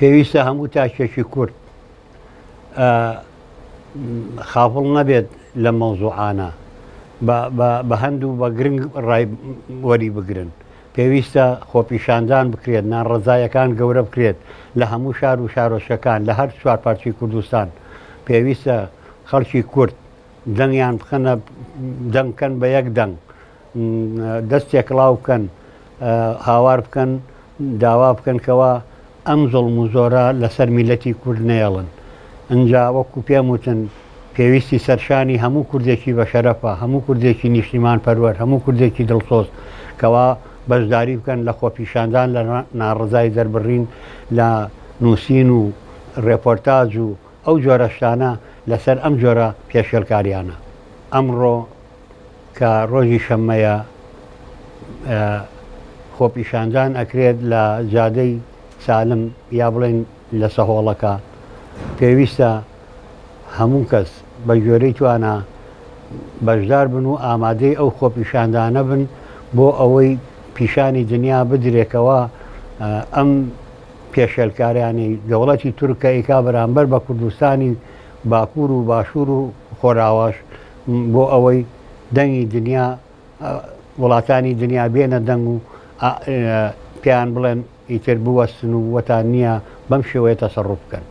پێویستە هەموو تاکێکی کورد خافڵ نەبێت لە مەوزوعانە بە هەند و بە گرنگ ڕای وەری بگرن پێویستە خۆپیشاندان بکرێت ناڕزایەکان گەورە بکرێت لە هەموو شار و شارۆچەکان لە هەر چوار پارچی کوردستان پێویستە خەڵکی کورد دەنگیان بخەنە دەنگکەن بە یەک دەنگ دەست تێکڵاو بکەن هاوار بکەن داوا بکەن کەەوە ئەم زۆڵ و زۆرە لەسەر میلەتی کورد نێڵن ئەجا وەکو پێم وتن پێویستی سەرشانی هەموو کوردێکی بە شەرەفە هەموو کوردێکی نیشتیمان پەروەر هەموو کوردێکی دڵسۆز کەوا بەشداری بکەن لە خۆپیشاندان لە ناڕزای دەربڕین لە نووسین و ڕێپۆرتاج و ئەو جۆرەشتانە لەسەر ئەم جۆرە پێشێلکاریانە ئەمڕۆ کە ڕۆژی شەممەیە خۆپیشاندان ئەکرێت لە جادەی سالم یا بڵێن لە سەهۆڵەکە پێویستە هەموو کەس بە گوێرەی توانە بەشدار بن و ئامادەی ئەو خۆپیشاندانە بن بۆ ئەوەی پیشانی دنیا بدرێکەوە ئەم پێشێلکاریانی دەوڵەتی تورکە ئیکا بەرامبەر بە کوردستانی باکوور و باشوور و خۆراواش بۆ ئەوەی دەنگی دنیا وڵاتانی دنیا بێنە دەنگ و پێیان بڵێن ئیتر بوەستن و وەتان نییە بەم شێوەیە تەسەڕوف بکەن.